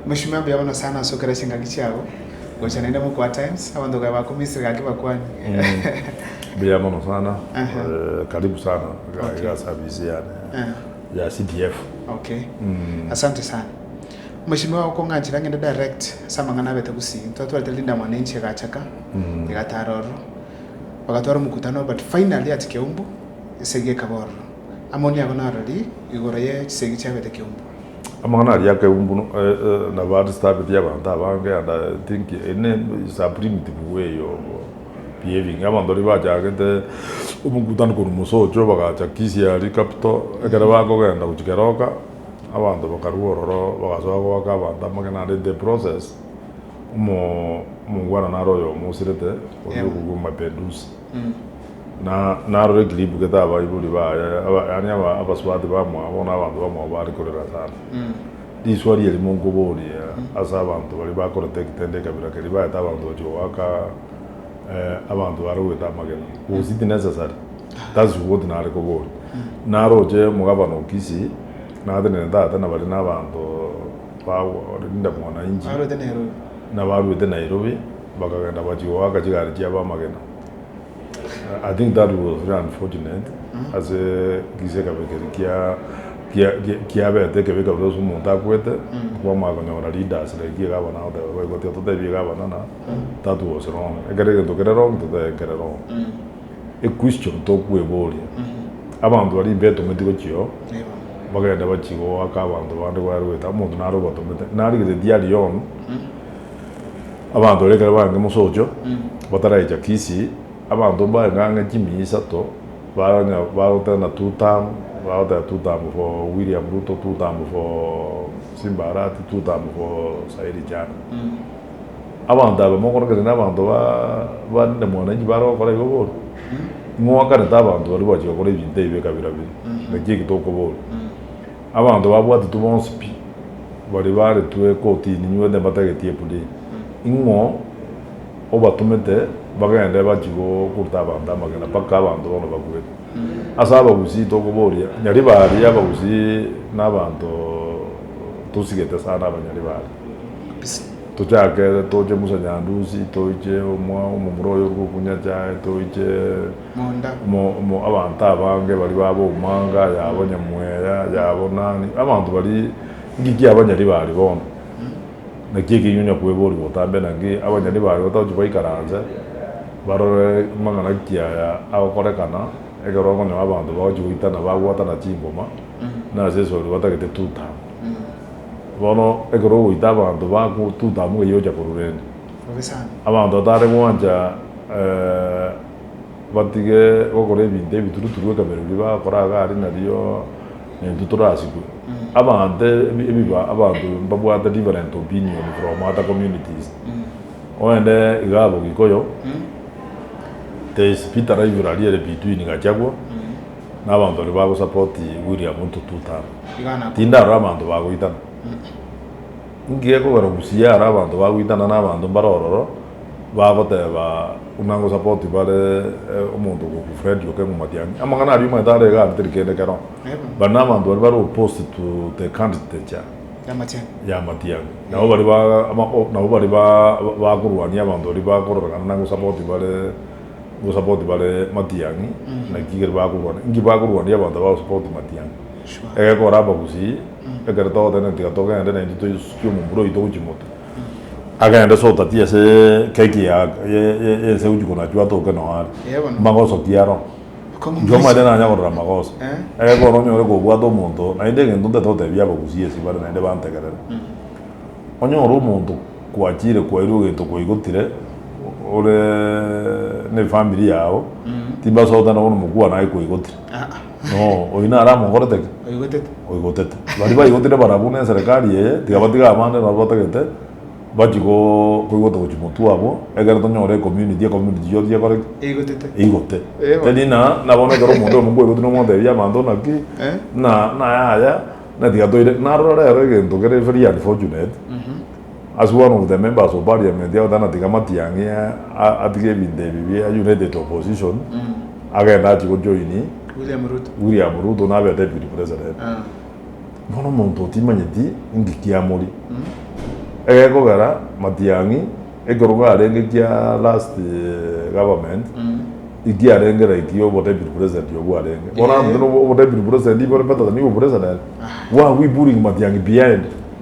Moshima mbuya mono sana ase okera chingaki chiabo gocha naende moka wa times abanto kae bako Misiri gaki bakwane. Mbuya mono sana karibu sana iga service yane ya CDF. Okay asante sana moshima oye okong'anchera ngende direct ase amang'ana abete gusii twatwarete rindamwano enche egacha ka egatara ororo bagatwara omokutano but finally at kiombu esegi ekaba ororo amoni abo narori igoro ye chisegi chiabete kiombu. Amang'ana aria akeegwa buna nabaristabeti y'abanto abange and I think ene is a primitive way of behaving. Abanto riria bachagete omogutano korwa mosocho bagacha Kisiari capital, ekero bakogenda gochia keroka abanto bakarwa ororo bagasoa goaka abanto amagena and in the process omo omongwana naro oyomo osirete oria okogwa Mapinduzi. na naroretie ribugete abaibori baye, aba- yaani aba- abasubati bamwabo na abanto bamwabo bare korera sana. Riswa riria rimo nkoborie ase abanto baria bakoreta egetende ekabira keria baete abanto bachia goaka eh, abanto bare goeta amagena was it necessary? That's what nare koboria. Naroche omogabana o Kisii natenene tata na baria na abanto ba Linda mwananchi Aroete Nairobi. nabaruete Nairobi. Bakagenda bachia goaka chigari chi'abamagena. I think that was very unfortunate ase gisekabe keria kia kia kia kiabete ekebe kabere ase omonto akwete kwamanya konyora leaders like egabana agoteba boigo tiga totebie egabana na that was wrong ekero egento kere wrong totebe kere wrong. Equestion tokweboria abanto baria imbetometi gochio bakagenda bachia goaka abanto bande kware goeta omonto nare obatomete narigeretie aria on. Abanto baria ekero barenge mosocho bataraicha Kisii, abanto mbaye ng'ang'a chimia isato baronya baroteba ng'a two term, bagoteba two term for William Ruto, two term for Simba Arati, two term for Saidi Chande. Abanto aba mokorogere nabanto ba barinde mwananchi bare gokora igo bono, ing'oakanete abanto baria gwachi gokora ebinto ebi ekabira biri, naki eki tokoboria. Abanto babwatitwe bonsi pi, baria baaretwe kortini inywete mbatageti epudi, ing'o obatomete bagende bachie gokuruta abanto amagena mpaka abanto bono bakwete. Ase abagusii tokoboria nyari baaria, abagusii nabanto tosigete sana abanyari baaria. Tochake toche Musa Nyandusi, toiche omwa omomura oyo ore gokunya chae, toiche. monda. Mo abanto abange baria babo omanga yabo nyamweya yabo nani abanto baria ngiki abanyari bari bono naki ekenyoro onya kwebori botambe naki abanyari bari batagochi baikaranse barore amang'ana nki aya agokorekana ekero okonyora abanto bagochi goitana babwatana chingoma nase esori batagete Tutamu bono ekero ogoita abanto baku Tutamu gaiya ocha korurende abanto batare gwancha batige gokora ebinto ebituruturu ekabere ebi bagokora iga aria nario intwe torasikwe. Abanto ebiba abanto mbabwate different opinion from other communities oende iga abo gikoyo there is bitter rivalry ere between gachagua na abanto baria bago support William ruto two term tindarora abanto bagoitana inki gekogera busia are abanto bagoitana na abanto mbare ororo. Bagoteba, Buna gosapoti bare omonto ogoku Fred Okeng'u Matiang'i. Amang'ana aria omanyete are igaa teri kende kero. Bari nabanto baria bare opposed to the canditature ya Matiang'i. Nabo bari nabo bari bakorwania abanto baria bakororekana na gosapoti bare gosapoti bare Matiang'i. Naki keri bakorwania. Inki bakorwania abanto abagosapoti Matiang'i? Egekora abagusii, ekero togotenena tiga togende naintwe toisukie omombura oito gochia moto. Agende sotati ase keki ya enseu chiko nachio atoke noo are. Magoso ki aro? Inche omanyete nanya korora magoso. Egekogera onyore kobwata omonto naende egento ntaete gotebia abagusi ase bare naende bantegerere. Onyore omonto kwachire kwairwe egento kwaigotire ore ne family yao timbasote nabo nomokwana aye kwaigotire. No, oyio nare amogorete ki? Oigotete. Oigotete. Baria baigotire barabwo na eserekari eye, tiga batiga abande nabo batagete, bachie go- koigota gochia motwe abwo, ekero tonyore ecommunity, ecommunity yonsi ekore ki? Eigotete. Eigote. Eh, bono. Teri na, na bono ekero omonto oyomo kwaigotire na omotebia abanto naki, Eh. na, na yaya, na tiga toire, narora rero egento kere very unfortunate, As one of the members of parliament ya Othana tiga Matiang'i atige ebinto ebi bia united opposition agende achie go join William Ruto nabe a deputy president bono omonto otimanyeti inki kiamori egekogera Matiang'i ekerogo arenge kia last government iki arenge like obo deputy president obwo arenge bono abanto obo deputy president ibo ore better than you president why are we pulling Matiang'i behind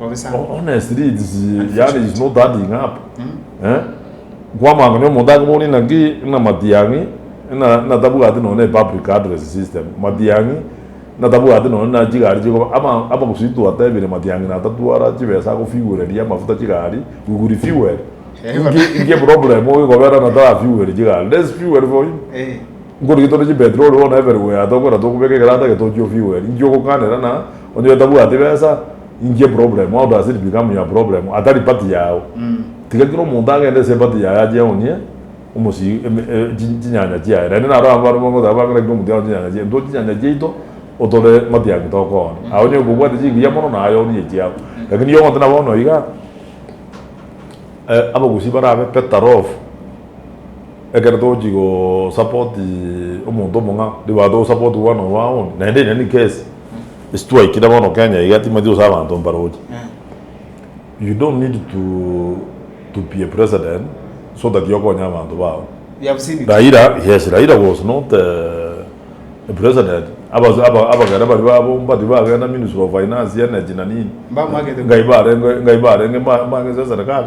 Honestly it's yaani it's not adding up eh kwamanya nonya omonto akoboorie naki ng'a matiang'i ng'a ng'a tabwati nonya ne public address system matiang'i ng'a tabwati nonya na chigari chikoba ama ama gose twatebire matiang'i natatwara chibesa agofueleria amafuta chigari we will refuel inki inki eproblem oyo ekobera natara fuel chigari let's fuel for him. Nkorigia tore chimbetiri ore bono eberwe ya tokora tokobeka egeranda ege tochie ofigure eria inche ogokanera na onye tabwati besa inki eproblem how does it become your problem atari party yao tiga kera omonto agende ase eparty yaye ache aonie omosi chinyanya chiaye naende naro abwo abare bagoteba bang'e rakire omonto yago chinyanya chiaye intwe chinyanya chiaito otore matiangi tokooni aye onye kobwate chingiya mono naye orie echiago lakini igo ogoteba bono iga abagusii barabe better off. Ekero togochia go support omonto omong'ao nigo togo support one of our own naende in any case ase twaikire bono Kenya iga timanyeti gose abanto mbaroche you don't need to be a president so that okonye abanto bago. Raila yes Raila was not a president abagere baria babomba tibagenda ministry of finance energy na nini ngai barenge ngai barenge mang'ise eserekari.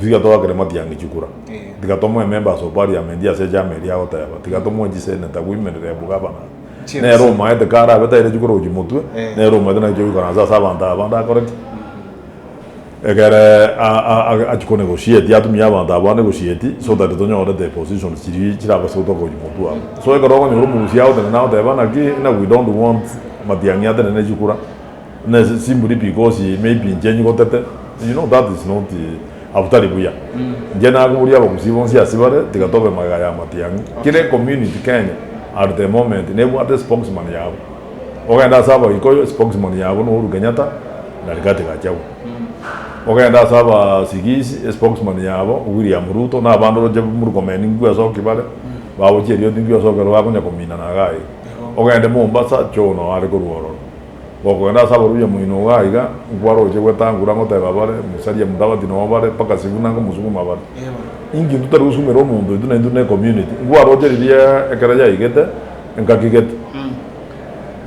Tiga togakere matiangi chikura. Tiga tomoe ememba ase opariamenti ase echama eria agoteba. Tiga tomoe chiseneta koimerera ebugabana. Nere omaete kare abe taire chikura gochia motwe. Nere omaete naki oikoransa ase abanto aba bande akore ki? Ekere achikone egosieti atumie abanto aba bande egosieti so that tonyore the positions chiria chirabe ase gotoka gochia motwe aba. So ekero okonyora omogusia agotenena agoteba naki we don't want matiangi atenene chikura. Ne simburi because maybe inche nyigotete you know that is not abtari buya inche nakoboria abagusii bonsi ase bare tiga tobe magega ya amatiang'i kere community Kenya at the moment nebwate spokesman yabo ogende ase abagikoyo spokesman yabo no Uhuru Kenyatta na Rigathi Gachagua ogende ase aba sigisi spokesman yabo William Ruto na abande oroche Murkomen ngigwe ase oki bare bagochia erioti ngigwe ase oki ore bakonya kominana iga iga ogende Mombasa Joho noyo are korwa ororo. Gokoenda ase abarwori amo inwe iga aiga, nkwaroche gwetangura ngoteba bare, Musalia Mudavadi nonya bare, mpaka Sifuna nkomosukuma bare. Inki intwe tari gosumera omonto oito naintwe ne community? Nkwaroche riria ekero yaigete, engaki gete.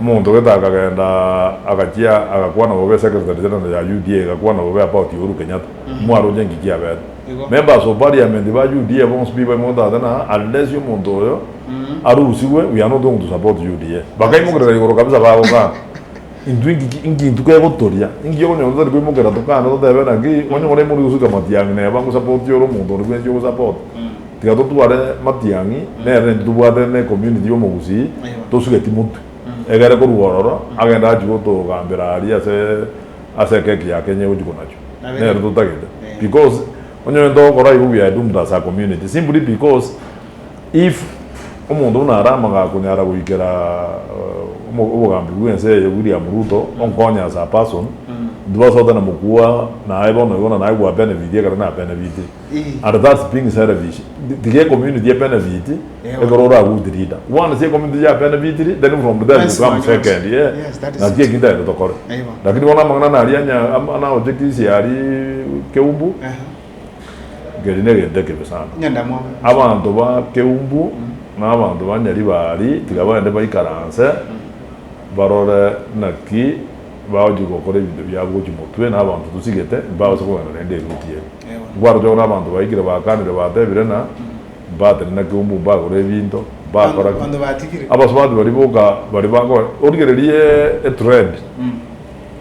Omonto gete akagenda agachia agakwana bobe Secretary General ya UDA egakwana bobe about Uhuru Kenyatta. Mwaroche inki kiabete? Members of Parliament ba UDA bonsi pibo imotatenaa unless omonto oyo. arusigwe we are not going to support UDA bakaimokerera igoro kabisa bagokana intwe inki inki intwe kegotoria inki okonyora totari koimokera tokane totebe naki onye more imorwe gosuka matiang'i naye bango support ore omonto oria bwensi ogo support tiga totware matiang'i nere nintwe tobwate ne community yomogusii tosuge timotwe egere korwa ororo agende achie gotogambera aria ase ase ekeki ya Kenya egochia konachwa nere totagete because onye ore intogokora igo we are doomed as a community simply because If omonto buna Aramaga akonyara goikera obogambi bwense eye William Ruto onkonye as a person intwe basote na mokubua naye bono igo na naye gwa benefiti ekero na benefiti and that's being selfish tiga ecommunity e benefiti ekero oragout leader once ecommunity ya benefitiri then from there you come second yes naki eki ntaete tokore lakini bono amang'ana naria anya naochekisia aria keumbu. Nkeri negento ekibe sana. Abanto ba Keumbu na abanto ba Nyaribari tiga baende baikaranse barore naki bagochia gokora ebinto biabo gochia motwe na abanto tosigete mbabase kogenda naende eruti eye. Nkwaroche bono abanto baikire bakanire batebire na mbatene na Keumbu mbagore ebinto mbakora ki. Abanto batigire. Abasubati baria boka baria bako origererie etrend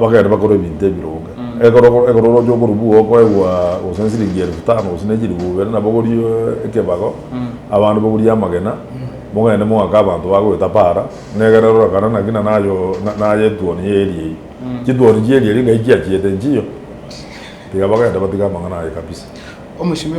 bagende bakore ebinto ebironge. Ekero oroche okorwa bwogo okoegwa gose nesiringi elifu tano gose nechilifu ibere nabo ogorie ekebago abande bagorie amagena mogende moake abanto bagoeta para negere rorekane naki naye etuoni ya area eyio. Chituoni chia area eria ngai chiachiete nchiyo tiga bagende batige amang'ana aye kabisa. Omochimi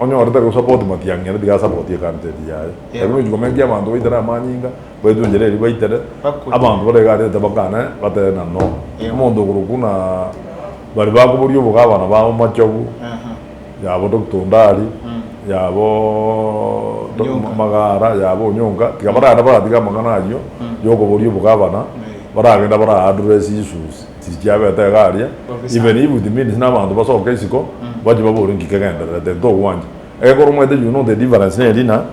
Onye orete gosapoti matiang'i aria, tiga asapotie kanteti yaye. Ebi nochi komenkia abanto baitere amanyinga, baetwe enchera eria baitere, abanto bare iga aria tabakane batebe na no. Omonto okorokwa na bari bakoboria obogabana babo Machogu, yabo Doctor Ondari, yabo Magara, yabo Onyonka, tiga baragenda baratige amang'ana ayio yokoboria obogabana, baragenda bara address issues. Chichiabete iga aria, even if it means nabanto basoke isiko bache babore ng'iki kegendererete ntogwancha. Egekora omanyete you know the difference ne erina,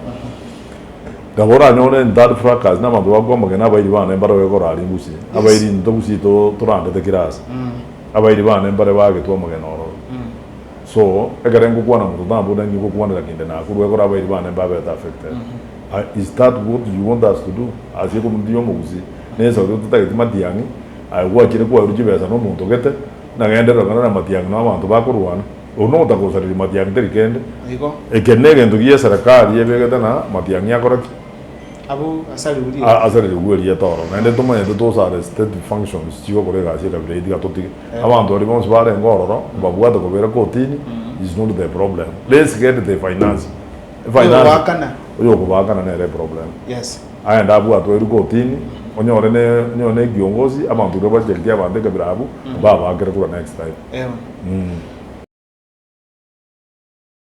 nabo oranyore in that fracas nabanto bagokwama gena abairi bane mbare ogekoraria ngusie, abairi into ngusie to torandete kira ase. Abairi bane mbare bagetwe omogena ororo. So ekere ngokwana monto tambu nari ngokwanera kende nakorwa egekora abairi bane mbabete affected. Is that what you want us to do as ecomunity y'omogusii? Nesa oria ototageti matiang'i? Aye gwachire kwarwa chibesa nomonto gete, nagende rogendo namatiangi na abanto bakorwana, oria nogotakosareria matiangi teri kende. Eke negento gie eserekari ebegete na matiangi akora ki? Asarerigwe erieta oro. Naende tomanyete tose are state functions chigokora egasi ekabira eye tiga totige. Abanto baria bonsi barenge ororo mbabwate kobera kotini is not the problem. Let's get the financing. Oyo okobaakana nere eproblem. Aye ndabwatwe erikotini onyore ne onyore ne kiongozi abanto iga bacheritie abanto ekabira abwo babaakere kura next time.